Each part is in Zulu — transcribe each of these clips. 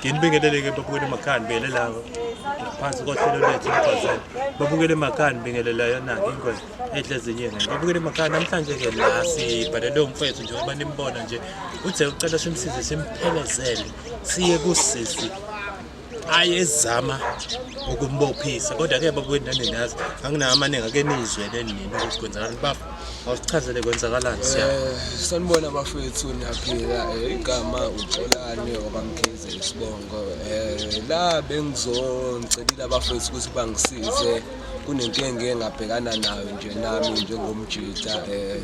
nginibingelele ke babukele emakhaya nibingelela ngaphansi kohlelo lwethu umfazane babukele emakhaya nibingelela yona ingozi ehle ezinyeni babukele emakhaya namhlanje ke la sibhalele umfethu nje uba nimbona nje uthe ucela simsize simphelezele siye kusisi ayezama ukumbophisa kodwa ke bakwethu naninazi anginawo amaningi ake niyizwele nini ukuthi kwenzakalani bafo awusichazele kwenzakalani siya Eh, sanibona bafethu niyaphila Eh, igama uxolane obamkhize isibongo um la bengizocelile abafethu ukuthi bangisize kunenkinga engabhekana nayo nje nami njengomjita um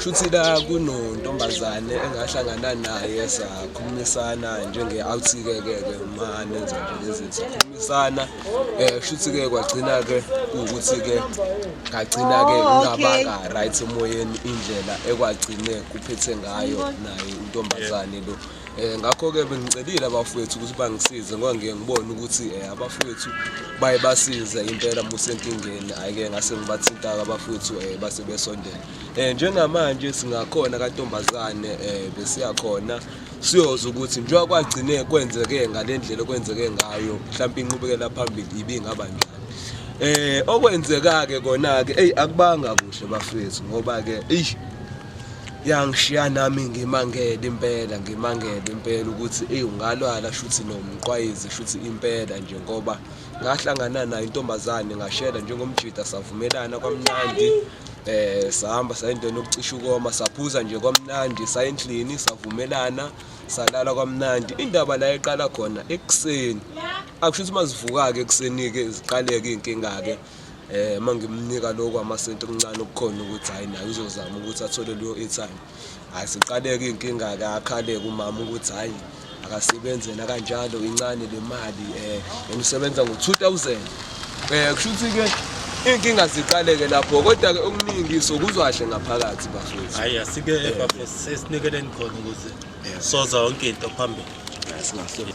shuthi la kunontombazane engahlangana naye sakhulumisana njenge awuthike ke ke uma nenza nje lezi sakhulumisana eh shuthi ke kwagcina ke ukuthi ke ngagcina ke oh, ngingabanga right emoyeni indlela ekwagcine kuphethe ngayo naye intombazane lo Eh, ngakho-ke bengicelile abafowethu ukuthi bangisize ngoba ngiye ngibone ukuthi um abafowethu baye basize impela musenkingeni hhayi-ke ngase ngibathinta-ke abafowethu um base besondela um njengamanje singakhona kantombazane um besiyakhona siyoza ukuthi njengoba kwagcine kwenzeke ngale ndlela okwenzeke ngayo mhlawumpe inqubekela phambili ibingaba njani um okwenzeka-ke kona-ke eyi akubanga kuhle bafowethu ngoba-ke eyi yangishiya nami ngimangele impela ngimangele impela ukuthi eyi ungalwala shuthi nomqwayizi shuthi impela nje ngoba ngahlangana nayo intombazane ngashela njengomjida savumelana kwamnandi eh sahamba sayindona ukucisha ukoma saphuza nje kwamnandi sayendlini savumelana salala kwamnandi indaba la eqala khona ekuseni akusho ukuthi mazivuka ke ekuseni ke ziqaleke inkinga ke eh uma ngimnika lokho amasenti okuncane okukhona ukuthi hayi naye uzozama ukuthi athole leyo airtime hayi siqaleke inkinga ke akhale kumama ukuthi hayi akasebenzela kanjalo incane le mali eh ngisebenza ngo2000 eh kusho ukuthi ke inkinga ziqaleke lapho kodwa ke okuningi sokuzwa kahle ngaphakathi bafethu hayi asike eh. bafethu sesinikeleni khona ukuthi eh. soza yonke into phambili singahleli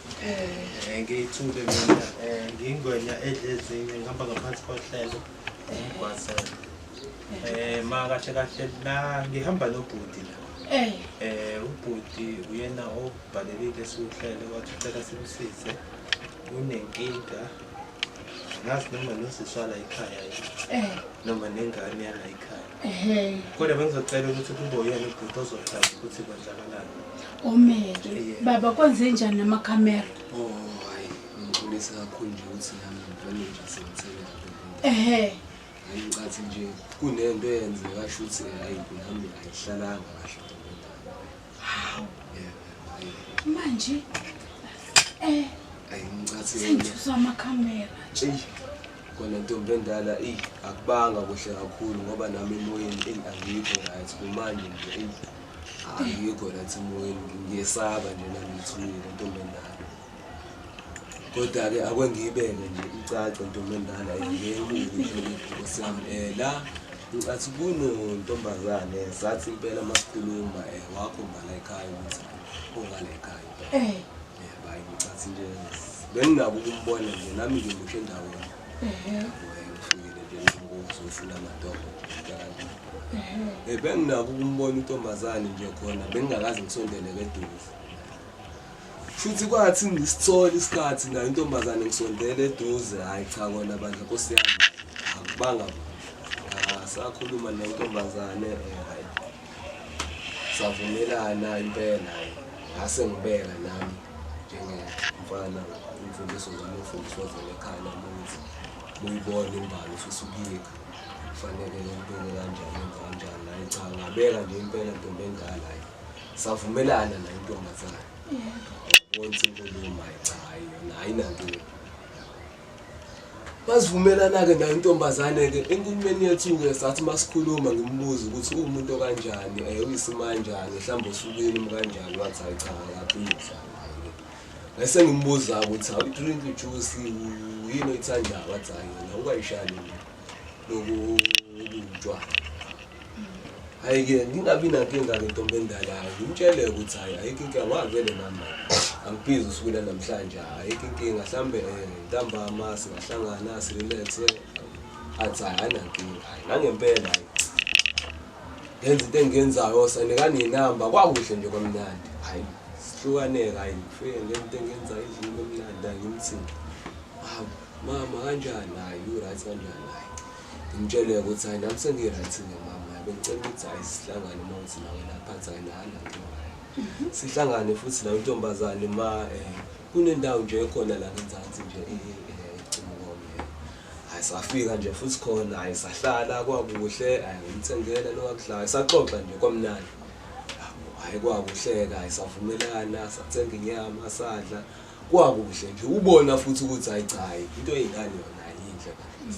Eh ngiyithule mina eh ngingwenya edlezinye ngihamba ngaphansi kohlelo ngigwasela. Eh ma kahle kahle la ngihamba nobhuti la. Eh eh ubhuti uyena obhalelile siwuhlele wathi ucela simsize unenkinga ngazi noma nosiswala ekhaya yini eh. noma nengane yala ekhaya Ehhe. Kodwa bengizocela ukuthi kube uyena ubhuti ozohlaza ukuthi kwenzakalani. Omeke. Yeah. Baba kwenze njani nama camera? Oh, hayi, ngixolisa kakhulu nje ukuthi nami ngivele nje sengithela. Ehhe. Hayi ngicathi nje kunento eyenzeka shuthi hayi nami ayihlalanga kahle. Hawu. Yeah. hayi. Manje eh Hayi ngicathi. sengithusa ama camera. Eyi. Kona ntombi endala eyi akubanga kuhle kakhulu ngoba nami emoyeni eyi angikho right kumanje nje eyi angikho right emoyeni ngiyesaba nje nami ngithulile ntombi endala kodwa-ke akwengiyibeke nje icace ntombi endala ngemulihlolikhosiyami um eh, la ngicathi kunontombazane sathi impela masikhuluma um eh, wakho ngala ekhaya ukuthi ongala ekhaya um benginako ukumbona nje nami nje ngisho endaweni ngifikile nje ngizofuna amadogo um benginako ukumbona untombazane nje khona bengingakaze ngisondele keduze futhi kwathi ngisithola isikhathi nayo intombazane ngisondele eduze hhayi cha kona bandla nkosi yami akubanga asakhuluma nentombazane um savumelana impela ngase ngibeka nami njengemfana imfundiso zami ufundiswa zona ekhaya namuthi uyibona imbali ufisa ukuyikha kufanele ngibeke kanjani enza kanjani naye cha ngabeka nje impela ntombi endala yi savumelana naye intombazane wonke inkulumo ayichayo nayo inanto Masivumelana-ke nayo intombazane-ke enkulumeni yethu-ke sathi masikhuluma ngimbuze ukuthi uwumuntu okanjani um uyisimanjani mhlawumbe usukini mkanjani wathi hayi cha akaphindla ngase ngimbuza ukuthi awudrink ijuice yini oyithandayo wathi hayi yona ungayishani lokubunjwa hhayi-ke ngingabi nankinga-ke ntombi endalayo ngimtshele ukuthi hhayi ayikho inkinga ngavele nami angibhizi usuku lanamhlanje ayikho inkinga mhlawumbe um eh, ntambama singahlangana sirelaxe athi hhayi anankinga hhayi nangempela hhayi ngenza into engiyenzayo sanikani yinamba kwakuhle nje kwamnandi hhayi sihlukaneka hhayi ngifike ngenza into engiyenzayo endlini kwamnandi angimthini hawu Mama kanjani hayi you right kanjani hayi. Ngimtshele ukuthi hayi nami sengi right nge mama hayi bengicela ukuthi hayi sihlangane uma ngithi nawe lapha athi hayi nala nto hayi. Mhm. Sihlangane futhi la intombazane ma eh kunendawo nje ekhona la ngenzansi nje eh, eh icimukome. Hayi safika nje futhi khona hayi sahlala kwakuhle hayi ngimthengela lokudlala saxoxa nje kwamnandi. Hayi kwakuhleka hayi savumelana sathenga inyama sadla. Kwakuhle nje ubona futhi ukuthi hayi cha hayi into yey'ngane yona hayi yinhle kahle.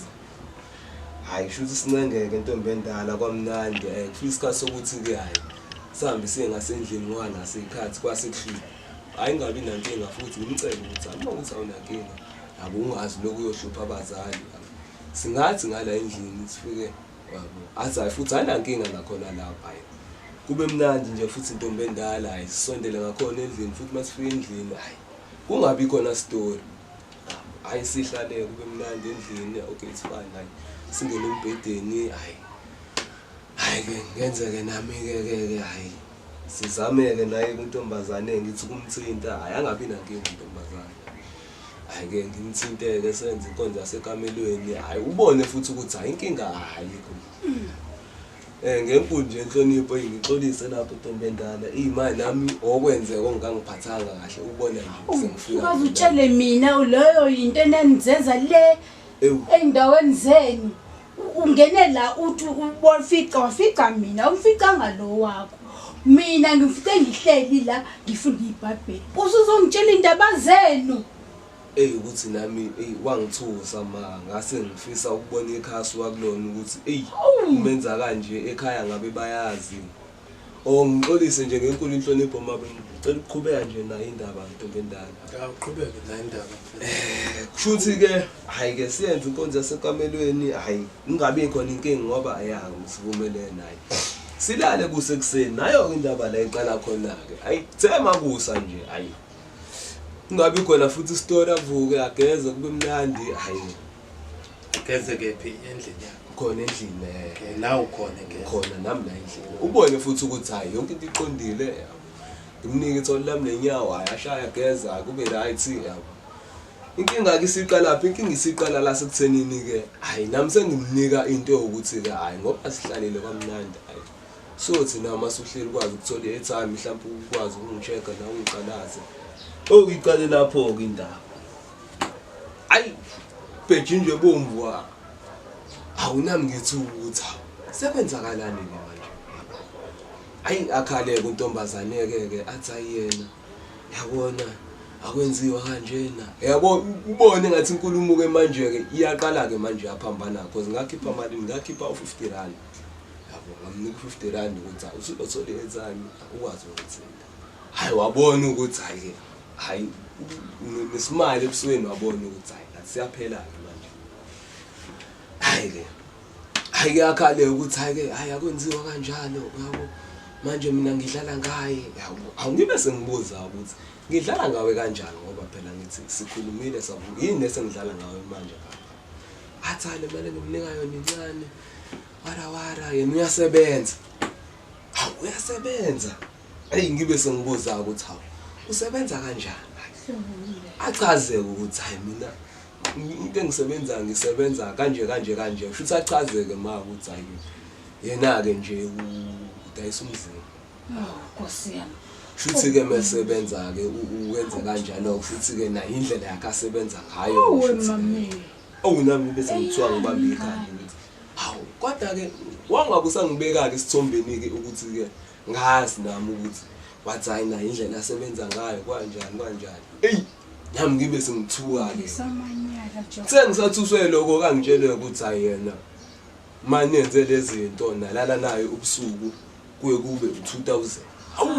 Hhayi kusho ukuthi sincengeke ntombi endala kwamnandi um kufika isikhathi sokuthi-ke hhayi sihambe siye ngasendlini ngoba naso iy'khathi kwasekuhlile hhayi ngingabi nankinga futhi ngimcele ukuthi hhayi uma ukuthi awunankinga yabo ungazi lokhu uyohlupha abazali singathi ngala endlini sifike athi hayi futhi anankinga ngakhona lapho hayi kube mnandi nje futhi intombi endala hayi sisondele ngakhona endlini futhi uma sifika endlini hayi kungabi khona story hayi sihlale kube mnandi endlini okay it's fine hayi singene embhedeni hayi hayi ke ngenzeke nami ke ke ke hayi sizameke naye kuntombazane ngithi kumthinta hayi angabi nankinga intombazane Hhayi ke ngimthinteke senze inkonzo yasekamelweni. Hhayi ubone futhi ukuthi hhayi inkinga ayikho. Um eh, ngenkulu nje inhlonipho eyi ngixolise lapho ntombi endala. Eyi ma nami okwenzeka ongangiphathanga kahle ubone nje sengifika. Ukaze utshele mina leyo yinto enanizenza le ey'ndaweni zenu. ungene la uthi ubofica wafica mina umficanga lo wakho mina ngifite ngihleli la ngifunda ibhayibheli usuzongitshela indaba zenu eyi ukuthi nami eyi wangithusa ma ngase ngifisa ukubona ikhasi wakulona ukuthi eyi umenza kanje ekhaya ngabe bayazi Oh ngixolise nje ngenkulu inhlonipho mama ngicela ukuqhubeka nje nayo indaba ntombendala. Awuqhubeke nayo indaba. Eh kushuthi ke hayi ke siyenze inkonzo yasekamelweni hayi ingabe ikhona inkingi ngoba ayanga ngisivumelene naye. Silale kuse kuseni nayo indaba la iqala khona ke. Hayi thema kusa nje hayi. Ingabe ikhona futhi story avuke ageze kube mnandi hayi. Geze kephi endlini yakho? Khona endlini eh. Okay, la ukhona ngeke. Khona nami la endlini. Ubone futhi ukuthi hayi yonke into iqondile yabo. Ngimnike ithole lami nenyawo hayi ashaya geza kube right yabo. Inkinga ke isiqala phi? Inkinga isiqala la sekuthenini ke. Hayi nami sengimnika into yokuthi ke hayi ngoba sihlalile kwamnandi hayi. So thina uma suhleli kwazi ukuthola i-airtime mhlawumbe ukwazi ukungichecka nawe ungiqalaze. Oyiqale lapho ke indaba. ayi bheji nje bomvu wa awunami ngithi ukuthi sekwenzakalani ke manje ayi akhale kuntombazane ke ke athi ayena yabona akwenziwa kanjena yabo ubone ngathi inkulumo ke manje ke iyaqala ke manje yaphambana kho ngakhipha mali ngakhipha u50 rand yabo ngamnika u50 rand ukuthi usuzothola enzani ukwazi ukuthi hayi wabona ukuthi hayi hayi nesimali ebusweni wabona ukuthi hayi asiyaphelana manje hayi ke hayi kuyakhale ukuthi hayi ke hayi akwenziwa kanjalo yabo manje mina ngidlala ngaye yabo angibe sengibuza ukuthi ngidlala ngawe kanjani ngoba phela ngithi sikhulumile savuka yini esengidlala ngawe manje athi hayi le mali engimnika yona incane wara wara yena uyasebenza Hawu uyasebenza. Hey ngibe sengibuza ukuthi hawu usebenza kanjani? Achaze ukuthi hayi mina into engisebenza ngisebenza kanje kanje kanje. Futhi achazeke ma ukuthi hayi yena ke nje udayisa umzimba. Oh, Nkosi yami. Futhi ke mesebenza ke uwenze kanjalo futhi ke nayo indlela yakhe asebenza ngayo. Oh, mami. Awunami bese ngithiwa ngibambe ikhanda. Hawu kodwa ke wangabe usangibekake isithombeni ke ukuthi ke ngazi nami ukuthi wathi hayi nayo indlela asebenza ngayo kwanjani kwanjani eyi nami ngibe sengithuka-ke sengisathuswe lokho kangitshele ukuthi hayi yena ma nenze le zinto nalala nayo ubusuku kuye kube u-two thousand awu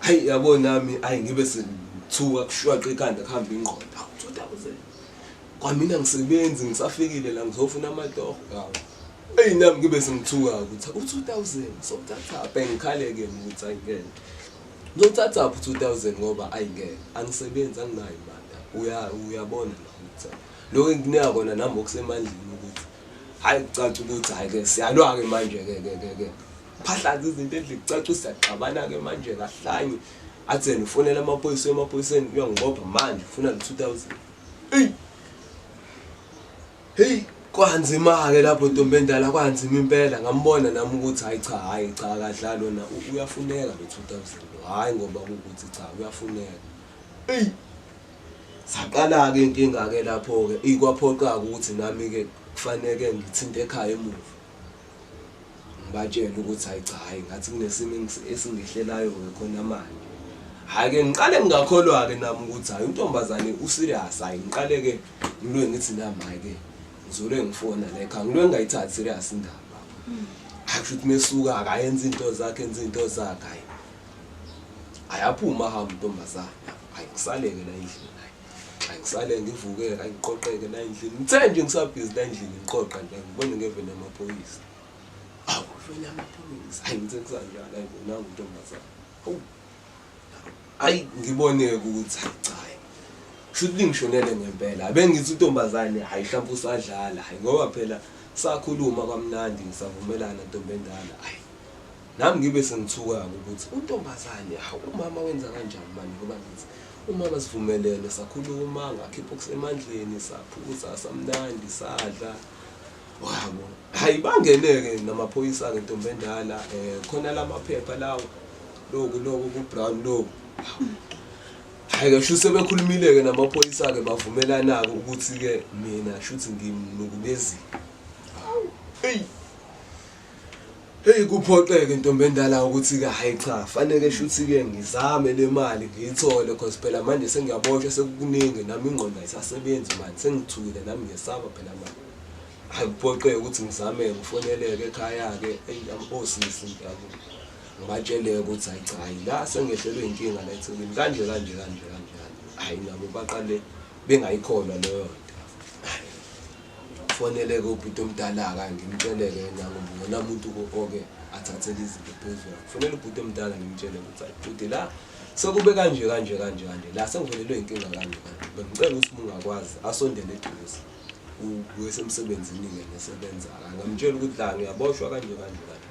hayi yabo nami ayi ngibe sengithuka kushwaqa ikhanda kuhambe ingqondo awu-two thousand Kwamina ngisebenzi ngisafikile la ngizofuna amatoho ngawo. Eyi nami ngibe sengithuka ukuthi u-2000 sothatha apha ngikhaleke ukuthi ayingeke. Ngizothatha apha u-2000 ngoba ayingeke angisebenzi anginayo imali. Uya uyabona la ukuthi lokho engikunika kona nami okusemandleni ukuthi hayi kucaca ukuthi hayi ke siyalwa ke manje ke ke ke ke. Phahlaza izinto endlini kucaca siyaxabana ke manje kahlanye. Athena ufonela amaphoyisa emaphoyiseni uyangibopha manje ufuna no-2000. Hey. Hey, kwanzima ke lapho ntombi endala kwanzima impela ngambona nami ukuthi hayi cha hayi cha kadla lona uyafuneka lo 2000 hayi ngoba ukuthi cha uyafuneka. Hey. Saqala ke inkinga ke lapho ke ikwaphoqa ukuthi nami ke kufanele ngithinte ekhaya emuva. ngibatshele ukuthi hayi cha hayi ngathi kunesimo esingehlelayo-ke khona manje hhayi-ke ngiqale ngingakholwa-ke nami ukuthi hhayi untombazane userious hhayi ngiqale-ke ngilwe ngithi nami hhayi-ke ngizolwe ngifona la ekhaya ngilwe ngingayithathi serious indaba hmm. hhayi kusho ukuthi mesuka akayenza iy'nto zakhe enza iy'nto zakhe hhayi ayaphuma hamba untombazana hayi ngisaleke la endlini Ay ngisale ngivuke ay ngiqoqeke la endlini. Ngithe nje ngisabhizi la endlini ngiqoqa nje ngibone ngeveni yamaphoyisa. Awu veni yamaphoyisa. Ay ngithe kusanjalo ay bona untombazana. Awu. Ay ngibone ukuthi ay cha. Shuthi lingishonele ngempela. Abengithi untombazane hayi hlampe usadlala. Hayi ngoba phela sakhuluma kwamnandi savumelana ntombendala. Ay Nami ngibe sengithuka-ke ukuthi untombazane hawu umama wenza kanjani manje ngoba ngithi umama sivumelene sakhuluma ngakhipha okusemandleni saphuza samnandi sadla wabo hayi bangene-ke namaphoyisa-ke ntombi endala um khona la maphepha lawo loku loku ku-brown loku hayi-ke sho sebekhulumile-ke namaphoyisa-ke bavumelana-ke ukuthi-ke mina shuthi ngimnukulezile eyi Hey kuphoxeke ntombi endala ukuthi ke hayi cha faneke shuthi ke ngizame le mali ngiyithole because phela manje sengiyaboshwa sekukuningi nami ingqondo ayisasebenzi manje sengithukile nami ngiyesaba phela manje hayi kuphoxeke ukuthi ngizame ngifoneleke ekhaya ke osisi ngiyabo ngibatsheleke ukuthi hayi cha hayi la sengehlelwe inkinga la eThekwini kanje kanje kanje kanje hayi nabo baqale bengayikholwa leyo Foneleke ubhuti omdala-ka ngimtsheleke yena ngoba uyona muntu oke athathele izinto phezulu. Kufanele ubhuti omdala ngimtshele ukuthi ayi bhuti la sekube kanje kanje kanje kanje la sengivelelwe inkinga kanje kanje. Bengicela ukuthi uma ungakwazi asondele eduze. U- Uyesemsebenzini-ke nesebenza-ka. Ngamtshela ukuthi la ngiyaboshwa kanje kanje kanje.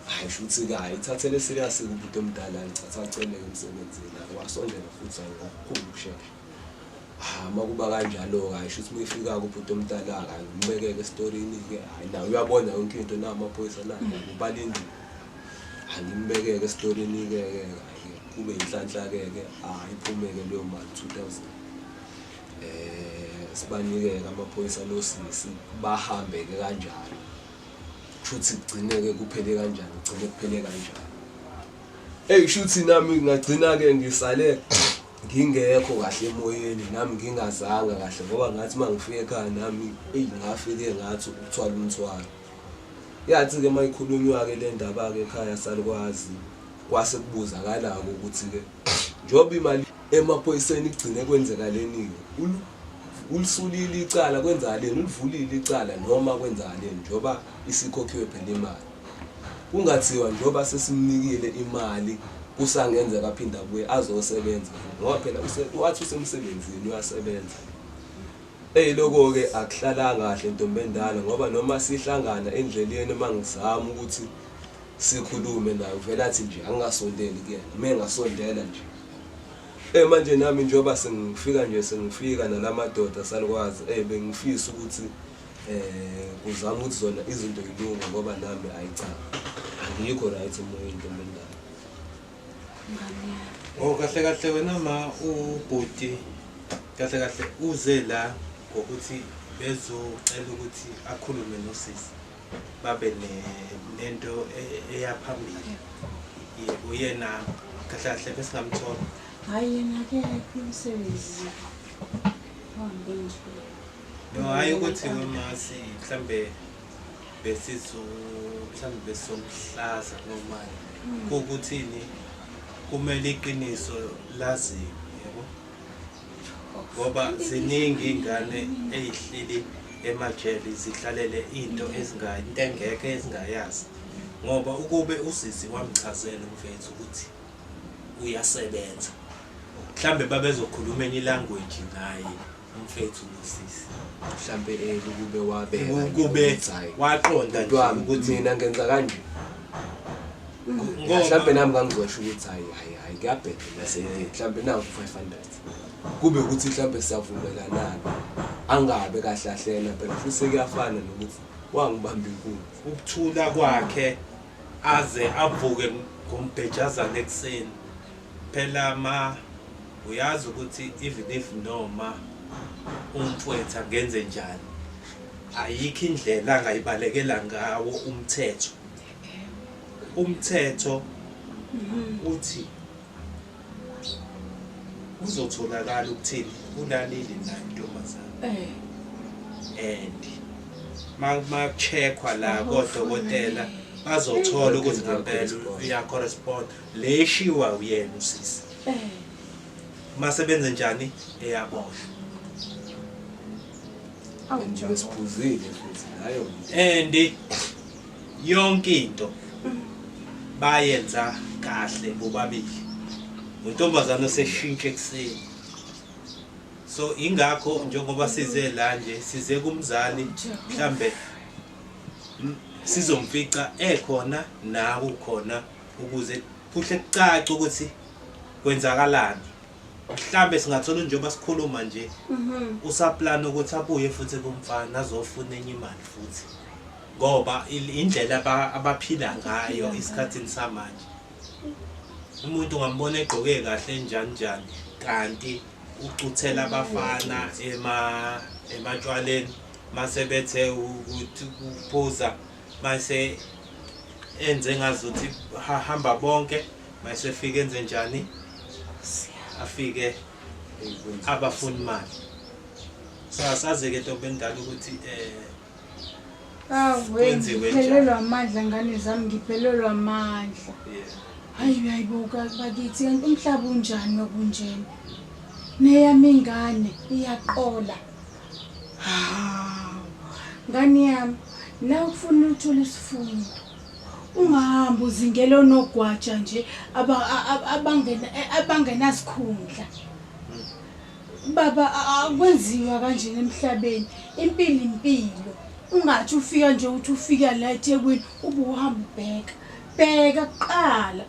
Hayi shuthi-ke hayi ithathele serious-ke ubhuti omdala ngithatha aceleke emsebenzini. Wasondela futhi hayi ngokukhulu ukushesha. Ah, uma kuba kanjalo-ke hayi shuthi uma efika-ke ubhuti omdala-ke hayi umbekeke esitorini-ke hayi naye uyabona yonke into na amaphoyisa na ubala indlu hayi ngimbekeke esitorini-ke ke hayi kube yinhlanhla-ke-ke hayi iphumeke leyo mali two thousand um sibanike-ke amaphoyisa losisi bahambe-ke kanjalo kushuthi kugcine-ke kuphele kanjani kugcine kuphele kanjani eyi kushuthi nami ngingagcina-ke ngisale ngingekho kahle emoyeni nami ngingazanga kahle ngoba ngathi uma ngifika ekhaya nami eyi ngafike ngathi ukuthwala umthwalo yathi-ke uma ikhulunywa-ke le ndaba-ke ekhaya salikwazi kwase kubuzakala-ke ukuthi-ke njengoba imali emaphoyiseni igcine kwenzeka leni-ke ulisulile icala kwenzakaleni ulivulile icala noma kwenzakaleni njengoba isikhokhiwe phela imali Kungathiwa njengoba sesimnikile imali kusangenzeka aphinde abuye azosebenza futhi ngoba phela wathi usemsebenzini uyasebenza. Eyi lokho-ke akuhlalanga kahle ntombi endala ngoba noma sihlangana endleleni uma ngizama ukuthi sikhulume naye uvele athi nje angingasondeli kuyena uma engasondela nje Eh manje nami njengoba sengifika nje sengifika nalamadoda salukwazi eh bengifisa ukuthi um uzama ukuthi zona izinto yilunga ngoba nami ayi cha angiyikho right emoyeni ntombi endala o oh, kahle kahle wena ma ubhuti kahle kahle uze la ngokuthi bezocela ukuthi akhulume nosisi babe nento e-, eyaphambili yebo yena kahle kahle besingamthola hhayi yena ke umsebenzi uhambe nje No, hayi ukuthi wemasi mhlambe besizo mhlambe besomhlaza noma hmm. kukuthini kumele iqiniso laziwe yebo ngoba ziningi ingane ezihlili emajele zihlalele into ezingayi into engeke ezingayazi ngoba ukube usisi wamchazela umfethu ukuthi uyasebenza mhlambe babezokhuluma enye language naye mfethu nosisi mhlampe eh, ukube wabeka ukube waqonda nje ukuthi mina ngenza kanje mhlampe nami ngangizosho ukuthi hayi hayi hayi kuyabheda mase mhlampe nawu 500 kube ukuthi mhlampe siyavumelanana angabe kahle ahlena phela futhi sekuyafana nokuthi wangibamba inkulu ukuthula kwakhe aze avuke ngombhejazana ekuseni Phela ma uyazi ukuthi even if noma umfwethu angenze njani ayikho indlela angayibalekela ngawo umthetho umthetho uthi uzotholakala ukuthini ulalile nayo intombazane and makuchekhwa la kodokotela bazothola ukuthi ngempela uyacorrespond Le eshiwa uyena usisi. Eh. Mase benze njani eyaboshwa. Awuphuzile futhi nayo. And yonke into mm. bayenza kahle bobabili. Untombazana seshintshe kuseni. so ingakho njengoba size la nje size kumzali mhlambe sizomfica ekhona nawe ukhona ukuze kuhle kucace ukuthi kwenzakalani mhlambe singathola njengoba sikhuluma nje mhm. usaplana ukuthi abuye futhi kumfana azofuna enye imali futhi ngoba indlela abaphila ngayo isikhathini samanje umuntu ngambona egqoke kahle njani njani kanti ucuthela abafana ema ematshwaleni mase bethe ukuthi uphuza Mase enze ngazuthi hamba bonke mase fike enze njani afike abafuni imali so asaze ke ntombi endala ukuthi eh awengiphelelwa amandla ngane zami ngiphelelwa amandla hayi uyayibuka bakithi kanti umhlaba unjani okunjena neyami ingane iyaqola ngane yami na ukufuna uthole isifundo ungahambi uzingela onogwaja nje abangenasikhundla baba akwenziwa kanjena emhlabeni impilo impilo ungathi ufika nje uthi ufika la ethekwini ube uhamba ubheka bheka kuqala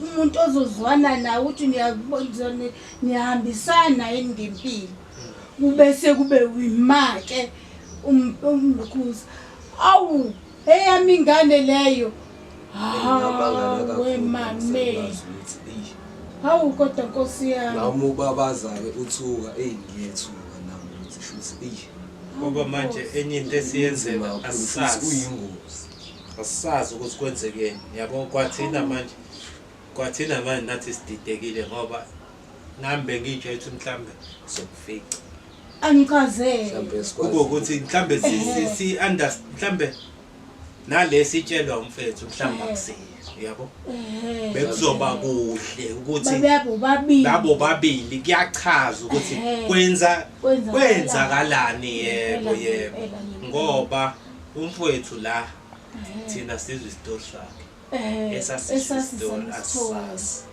umuntu ozozwana nawe ukuthi niyahambisana yini ngempilo Ubese kube uyimake umlukuza. Awu, eyami ingane leyo. Hawu, wemame. Hawu kodwa Nkosi yami. Nami ubabaza ke uthuka, ey ngiyethuka nami ukuthi shuthi ey. Ngoba manje enye into esiyenzela asazi uyingozi. Asazi ukuthi kwenzekeni. Yabo kwathina manje. Kwathina manje nathi sididekile ngoba nami bengiyijwayele ukuthi mhlawumbe sokufica angichazele mhlawumbe kube sikwazi ukuthi mhlawumbe si- si- Ehhe. si underst- mhlawumbe nalesi itshelwa umfethu mhlawumbe Ehhe. akusiyo yabo Eh, bekuzoba kuhle ukuthi babeyabo babili labo babili kuyachaza ukuthi Ehhe. kwenza Kwenzakalani. kwenzakalani yebo Impela, yebo impela, impela. ngoba umfowethu la thina sizwe isitori sakhe Eh, esasisisithozi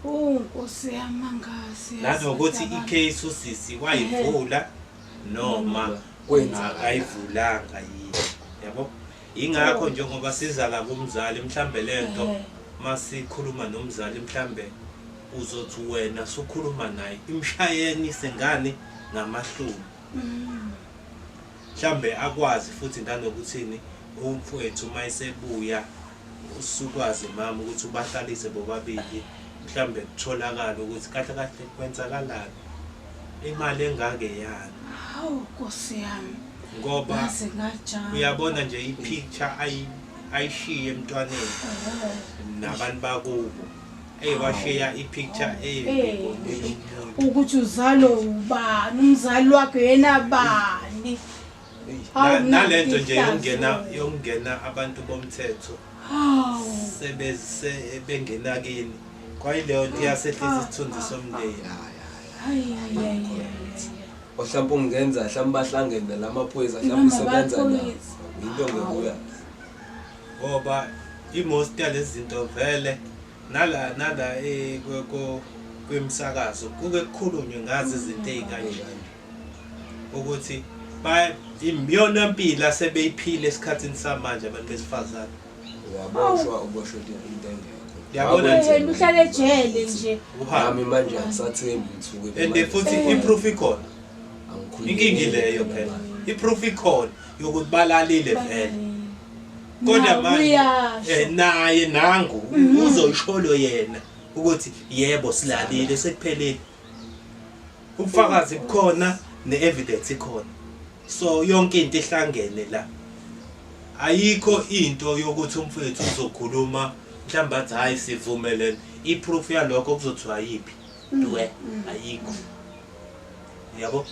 Oh Nkosi yamangazi. Lapho ukuthi icase usisi wayivula noma kwenza ayivulanga yini. Yabo? Ingakho oh. njengoba siza la kumzali mhlambe lento masikhuluma nomzali mhlambe uzothi wena sukhuluma naye imshayeni sengane ngamahlumi. Mm. Mhlambe akwazi futhi nanokuthini umfwethu mayesebuya usukwazi mama ukuthi ubahlalise bobabili mhlambe kutholakala ukuthi kahle kahle kwenzakalani imali engake yani hawu nkosi yami ngoba uyabona nje ipicture ayishiye emntwaneni oh. nabantu bakubo Hey washiya ipicture eh, eh ukuthi uzalo ubani umzali wakhe yena bani nalento nje yokungena yokungena abantu bomthetho sebese bengena kini kwayileyo nto iyasehlisa isithunzi somndeni ohlawumbe ungenza hlawumbe bahlangene la maphoyisa hlawumbe usebenza na yinto ngekuya ngoba i-most yalezi zinto vele nala nala eh, ku- ku- kwimisakazo kuke kukhulunywe ngazo izinto ey'kanjani ukuthi ba- imiyona mpilo asebeyiphile esikhathini samanje abantu besifazane uyaboshwa uboshwe into engekho Yabona nje. Wena uhlale ejele nje uhambe nami manje angisathembi ukuthi uke and futhi i-proof ikhona inkinga ileyo phela i-proof ikhona yokuthi balalile vele kodwa manje eh, naye nangu mhm. uzoyisholo yena ukuthi yebo silalile sekuphelile ubufakazi bukhona ne-evidence ikhona so yonke into ihlangene la ayikho into yokuthi umfowethu uzokhuluma mhlawumbe athi hhayi sivumelene i-proof yalokho kuzothiwa yiphi Due ayikho. Yabo?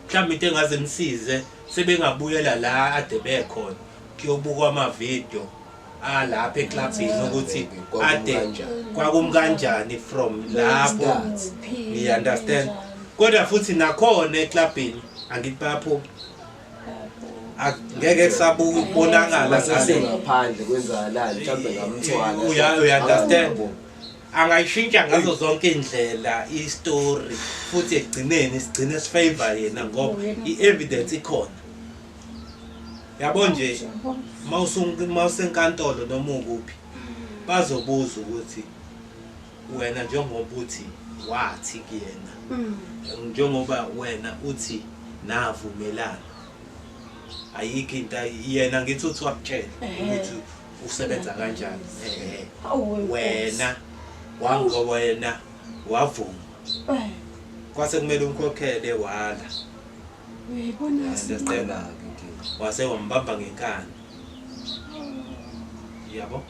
Mhlawumbe into engaze nisize sebengabuyela la ade bekhona kuyobukwa ama video alapha eclubini ukuthi ade kwakum kanjani from lapho you understand kodwa futhi nakhona eclubini angithi bayaphuma ngeke kusabuka ukubonakala sase ngaphandle kwenzakalani mhlawumbe ngamthwala uya understand angayishintsha ngazo zonke indlela istory futhi egcineni sigcine sifavor yena ngoba i-evidence ikhona yabo nje mawusenkantolo noma ukuphi bazobuza ukuthi wena njengoba uthi wathi kuyena mm. njengoba wena uthi navumelana ayikho into yena ngithi uthi wakutshela ukuthi usebenza kanjani eh wena wango wena wavuma eh. kwase kumele umkhokhele wala uyayibona sicela wase wambamba ngenkani yabo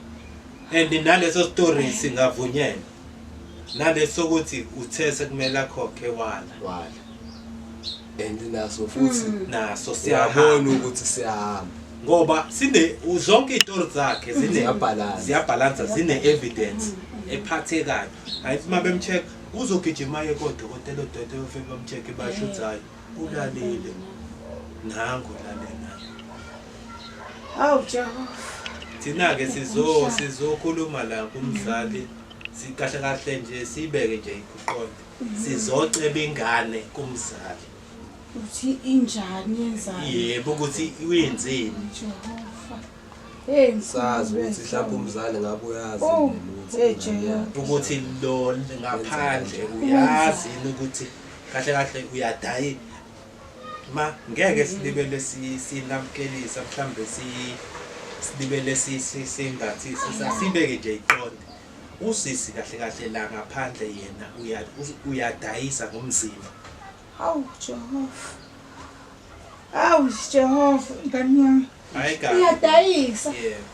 and naleso story singavunyelwa nale sokuthi uthe sekumele akhokhe wala wala and naso futhi mm. naso siyabona ukuthi siyahamba ngoba sine zonke izitori zakhe zine ziyabhalansa ziyabhalansa zine evidence mm. ephathekayo ayithi uma bemcheck uzogijima ye kodokotela odokotela ofike bamcheck bashuthayo Ulalile. Nangu lalela. Awu Jehova. Thina ke sizo sizokhuluma la kumzali sikahle kahle nje sibeke nje ikuqonde. Sizoceba ingane kumzali. Uthi injani yenzani? Yebo ukuthi uyenzeni. Jehova. Hey ngisazi ukuthi mhlawumbe umzali ngabe uyazi ukuthi ukuthi lo ngaphandle uyazi ukuthi kahle kahle uyadayi ma ngeke silibele sinamukelisa mhlawumbe silibele singathi sibeke nje iqonde usisi kahle kahle la ngaphandle yena uyadayisa ngomzimba hawu jehova hawu jehova ngani yami Hayi kabi. Uyadayisa. Yebo.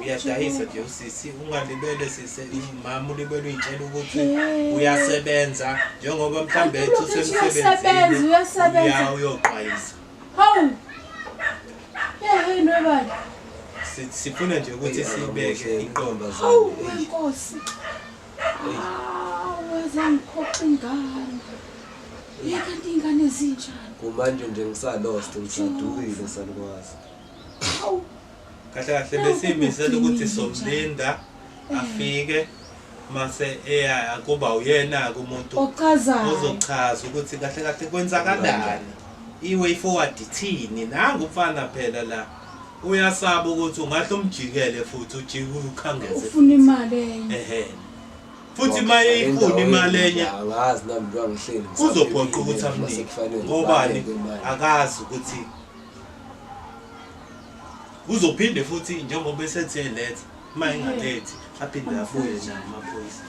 Uyadayisa nje usisi ungalibele sise mama ulibele uyitshela ukuthi Eh. uyasebenza njengoba mhlambe Kanti ethi ulokishi uyasebenza, usemsebenzini uyasebenza. uya uyoqwayisa. Hawu. Yehhe nobani. Si- Sifuna nje ukuthi sibeke inqondo Hawu wenkosi. Wazangiphoxa ingane. Yeka ingane ezinjani. Kumanje nje ngisalost ngisadukile sanikwazi. Awu. Kahle kahle besimisela ukuthi somlinda afike mase eya kuba uyena ke umuntu ochazayo ozochaza ukuthi kahle kahle kwenzakalani iway forward ithini nangu mfana phela la Uyasaba ukuthi ungahle umjikele futhi ujike ukhangeze. Ufuna imali enye. Ehhe. Futhi uma eyifuna imali enye angazi nami njengoba ngihleli uzophoqa ukuthi amnike. Ngobani? Akazi ukuthi uzophinde futhi njengoba esethi eletha uma engalethi aphinde abuye nayo amaphoyisa.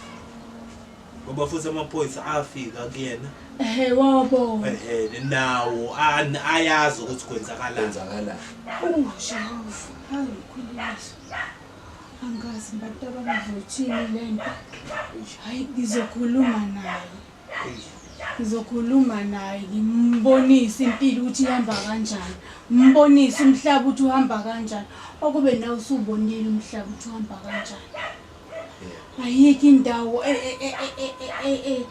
ngoba futhi amaphoyisa afika kuyena ehe wabona ehe nawo an- ayazi ukuthi kwenzakalani Kwenzakalani? ungushayufu ayikhuliso angazi abantu abangavothini le nto hayi ngizokhuluma naye ngizokhuluma naye ngimbonise impilo ukuthi ihamba kanjani ngimbonise umhlaba ukuthi uhamba kanjani okube nawe usubonile umhlaba ukuthi uhamba kanjani ayikho indawo e, e, e,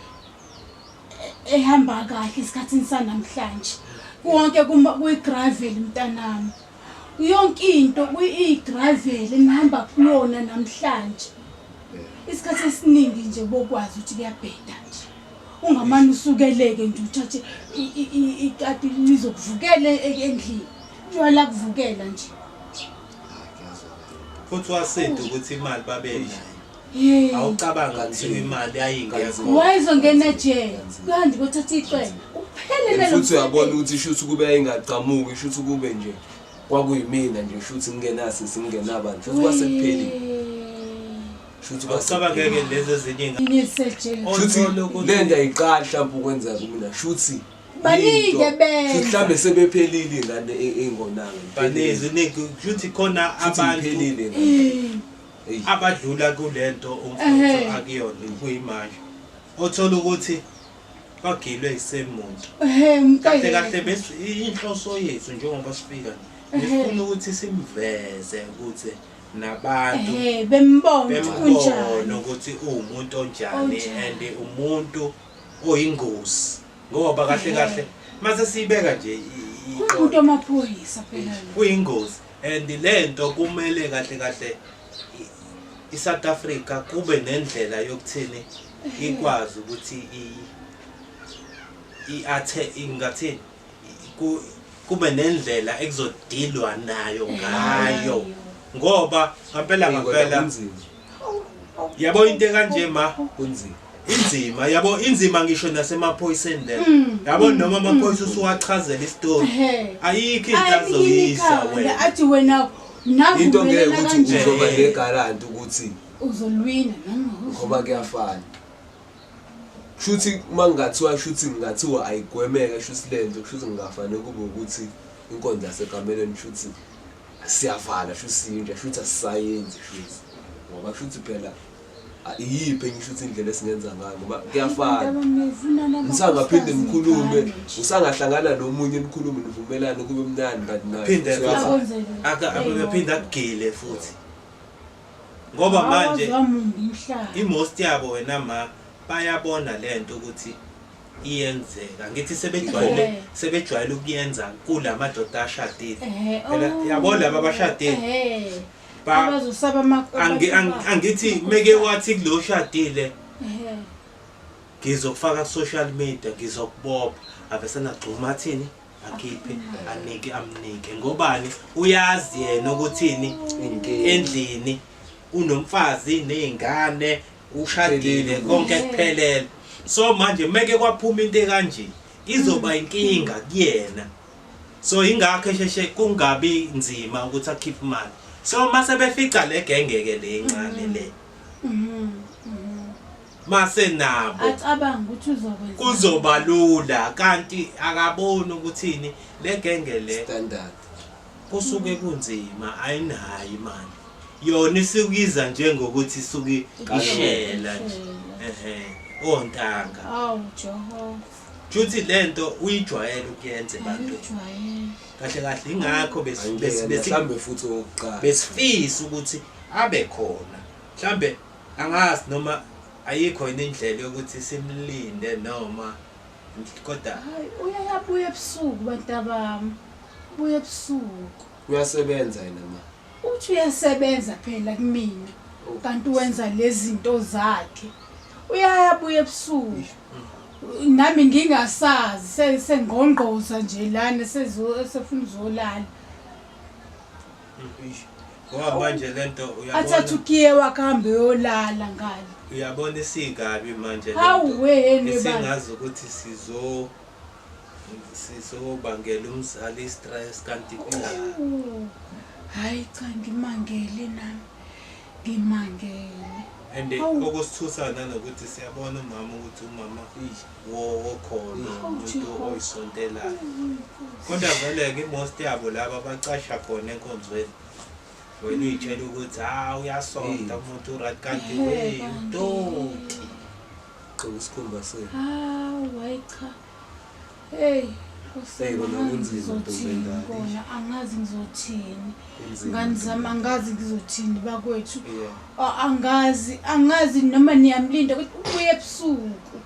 ehamba kahle esikhathini sanamhlanje konke kuyigravel mntanami yonke into kuyigravel enihamba kuyona namhlanje isikhathi esiningi nje bokwazi ukuthi kuyabheda nje ungamane usukeleke nje uthathe ikati lizokuvukela endlini tshwala kuvukela nje futhi wasida ukuthi imali babenayo awucabanga kuthiwa imali yayingekho wayezongena jele kuhanje kothatha icele kuphelele futhi uyabona ukuthi shuthi kube yayingagqamuki shuthi kube nje kwakuyimina nje shuthi ngingenasi singenabani futhi kwasekupheli shuthi kwasabangeke lezi ezinye ingathi shuthi lento ayiqali mhlawumbe ukwenzeka kumina shuthi baningi ebenza mhlawumbe sebephelile ingane ingonanga baningi ningi ukuthi khona abantu phelile abadlula kulento umfutho akuyona kuyimanje othola ukuthi bagilwe isemuntu kahle kahle bese inhloso yethu njengoba sifika ngifuna ukuthi simveze ukuthi nabantu bembona ukuthi uwumuntu onjani and umuntu oyingozi ngoba kahle kahle mase siyibeka nje umuntu amaphoyisa phela kuyingozi and lento kumele kahle kahle iSouth Africa kube nendlela yokuthini ikwazi ukuthi i i athe ingathini kube nendlela ekuzodilwa nayo ngayo ngoba ngampela ngampela yabo into kanje ma kunzima inzima yabo inzima ngisho nasemaphoyiseni le mm. yabo mm. noma amaphoyisa mm. usuwachazela isitori ayikho into azoyisa wena athi wena into ngeke ukuthi uzoba negaranti ukuthi uzolwina ngoba kuyafana Shuthi uma ngathiwa shuthi ngathiwa ayigwemeke shuthi lento kushuthi ngingafane kube ukuthi inkonzo yasekamelweni shuthi siyavala shuthi siyinja shuthi asisayenzi shuthi ngoba shuthi phela iyiphi enye shuthi indlela esingenza ngayo ngoba kuyafana ngisangaphinde ngikhulume usangahlangana nomunye nikhulume nivumelane kube mnandi but naphinde akugile futhi ngoba manje i-most yabo wena ma bayabona le nto ukuthi iyenzeka ngithi sebejwayele sebejwayele ukuyenza kula madoda ashadile phela oh. yabo laba abashadile angithi meke wathi kulo shadile ngizokufaka social media ngizokubopha avesena gxuma athini akhiphe anike amnike ngobani uyazi yena ukuthini endlini unomfazi nezingane ushadile konke kuphelele so manje meke kwaphuma into kanje izoba inkinga kuyena so ingakho esheshe kungabi nzima ukuthi akhiphe imali so mase befica le gengeke le incane le mm-hmm. masenabo acabanga ukuthi uzokwenza kuzoba lula kanti akaboni ukuthini legenge le standard kusuke kunzima ayinayo imali yona isukiza njengokuthi isuke ishela nje ehe ontanga awu jehova Juthi lento uyijwayele ukuyenza abantu. Kahle kahle ingakho besi besi mhlambe futhi oqala. Besifisa ukuthi abe khona. Mhlambe Angazi noma ayikho yini indlela yokuthi simlinde noma kodwa Hayi uyayabuya ebusuku bantabami. Ubuya ebusuku. Uyasebenza yena ma. Uthi uyasebenza phela kumina. Oh. Kanti wenza lezinto zakhe. Uyayabuya ebusuku. Nami ngingasazi sengqongqoza nje lana sefuna uzolala. ngoba manje lento athathukiye wakuhambe yolala ngani uyabona isikabi manje singazi ukuthi sizo sizobangela umzali istress kanti hayi cha ngimangele nami Ngimangele. And eh, Awu. okusithusa nanokuthi siyabona umama ukuthi umama wo- wokholo Awu, umuntu Jehova. oyisontelayo kodwa vele-ke imost yabo laba bacasha khona enkonzweni wena uyitshela ukuthi ha uyasonta umuntu urat kanti Ehhe, we kanti. doti gqoka isikhumba senu Hawu, hayi cha. Hey, ngizothini kona angazi ngizothini ngani zami angazi ngizothini bakwethu angazi angazi noma niyamlinda ukuthi ubuye ebusuku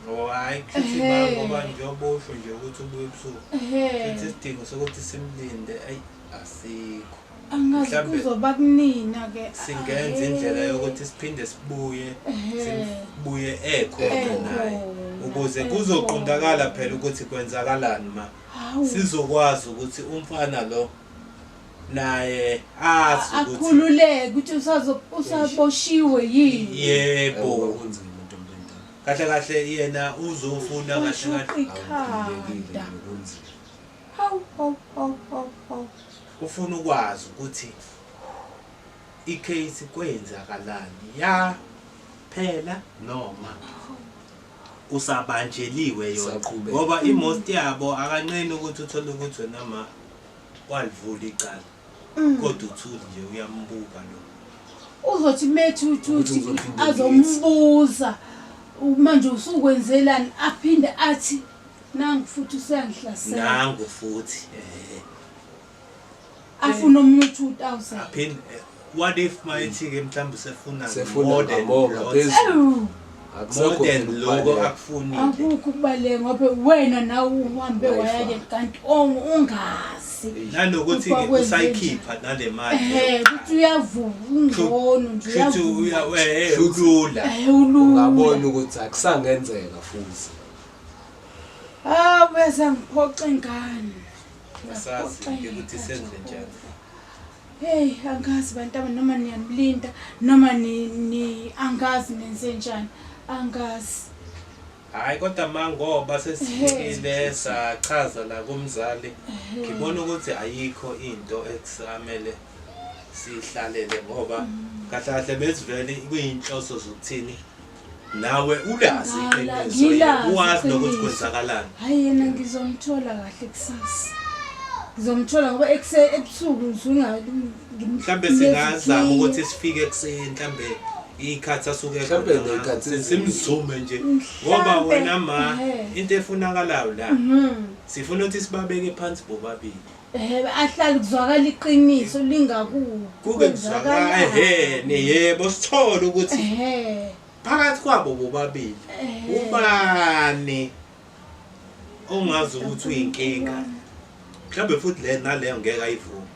oh, hayi kushuthi ngoba njengoba usho nje ukuthi ubuye ebusuku sithi isidingo sokuthi simlinde ayi asikho angazi Mhlambe- kuzoba kunina ke singenza indlela yokuthi siphinde sibuye sibuye ekho Ekho. naye ukuze Ekho. kuzoqondakala phela ukuthi kwenzakalani ma hawu sizokwazi ukuthi umfana lo naye azi ukuthi akhululeke ukuthi usazo- usaboshiwe yini yebo kunzima into omntantana kahle kahle yena uzofuna kahle Ushuqa kahle ikhanda awukhululekile kunzima hawu hawu hawu hawu hawu Ufuna ukwazi ukuthi i case kwenzakalani ya phela noma usabanjeliwe yona ngoba i most yabo akanqeni ukuthi uthole ukuthi wena ma walivula icala mm. kodwa uthuli nje uyambuka lo uzothi methi uthuthi azombuza manje usukwenzelani aphinde athi nangu futhi usuyangihlasela nangu futhi eh afuna omunye u-2000 aphinde eh, what if mayithi-ke mhlawumbe usefuna Sefuna more than ngamore lots, ngaphezulu. Ewu, Akusekho more than phela loko ukubaleka. akufunile akukho ukubaleka ngoba wena nawe uhambe Wi-Fi. wayake kanti ongu ungazi nanokuthi-ke Kuba kwenze usayikhipha nale mali ehe ukuthi uyavuka ungcono nje shuthi uyavuka eh, Shuthi- ulula ehe ulula ungabona ukuthi akusangenzeka futhi awu bezangiphoxa ingane Asazi ukuthi senze njani. Hey, angazi bantaba noma niyanilinda noma ni, ni angazi nenze njani. Angazi. Hayi kodwa mangoba sesifikile sachaza la kumzali ngibona ukuthi ayikho into ekusamele sihlalele ngoba mm. kahle kahle bezivele kuyinhloso zokuthini nawe ulazi iqiniso uwazi nokuthi kwenzakalani hayi yena ngizomthola kahle kusasa ngizomthola ngoba ekuse ebusuku mhlawumbe singazama ukuthi sifike ekuseni mhlawumbe ikhathi asuke simzume nje ngoba wena ma into efunakalayo la mhm. sifuna ukuthi sibabeke phansi bobabili Ehebe ahlali kuzwakala iqiniso lingaku. Kuke kuzwakala ehene yebo sithole ukuthi Ehhe. phakathi kwabo bobabili Ehhe. ubani ongazi ukuthi uyinkinga. Mhlawumbe futhi le naleyo ngeke ayivume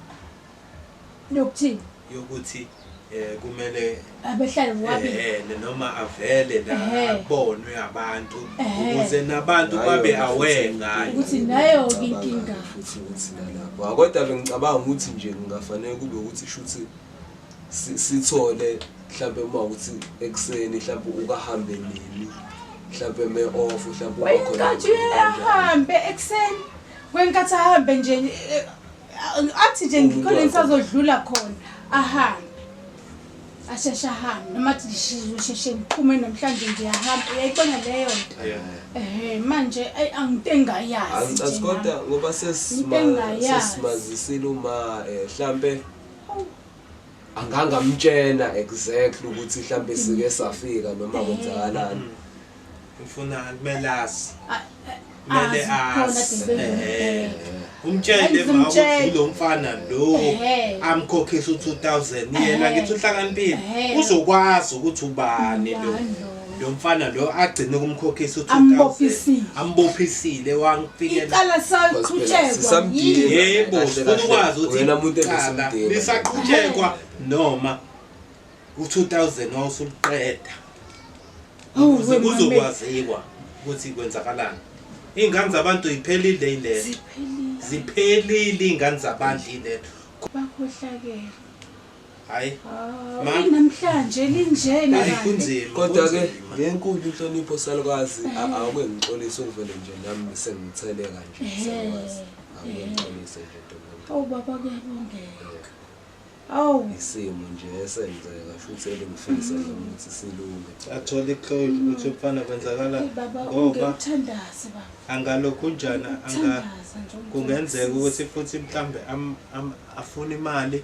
Nokuthini? yokuthi eh kumele abehlale wabi eh noma avele la abonwe abantu ukuze nabantu babe aware ngayo ukuthi nayo inkinga futhi ukuthi nalapho kodwa bengicabanga ukuthi nje kungafanele kube ukuthi shuthi sithole mhlawumbe uma ukuthi ekuseni mhlawumbe ukahambe nini mhlawumbe me off mhlawumbe ukhona wayenkathi uhambe ekuseni kwenkathi ahambe nje eh, athi nje ngikhona ngisazodlula khona ahambe asheshe ahambe noma athi ngisheshe ngiphume namhlanje ngiyahamba uyayibona leyo nto ehe manje ayi anginte engayazi kodwa ngoba sesimazisile uma um mhlampe angangamtshena exactly ukuthi hlampe sike safika noma kwenzakalani ngifuna kumele azi kumele azi umtshele ma ukuthi lo mfana lo amkhokhisa u2000 yena ngithi uhlakaniphile uzokwazi ukuthi ubani lo lo mfana lo agcine ukumkhokhisa u-2000 Ambophisile. ambophisile wangifikelela icala saqhutshekwa Sisamdinga. yebo Kahle, sifuna kahle. ukwazi ukuthi Wena muntu iqala engasimdingi. lisaqhutshekwa noma u-2000 wawusuliqeda Awu, ukuze wena kuzokwaziwa ukuthi kwenzakalani iy'ngane zabantu iphelile ilento Ziphelile. ziphelile iy'ngane zabantu ilento bakhohlakele hayi Hayi namhlanje linjena hayi kanti. kunzima kodwa ke kunzima. ngenkulu inhlonipho salukazi a- awuke ngixolise ukuvele nje nami sengithele kanje Ehhe. salukazi awuke Ehhe. ngixolise nje ntombami Awu baba kuyabongeka. Awu isimo nje esenzeka futhi elingifisa nami ukuthi silunge athole iclosure ukuthi mfana kwenzakala hey baba ngoba ungekuthandaze baba. angalokhu njani anga Thandaza nje. kungenzeka ukuthi futhi mhlambe am- am- afune imali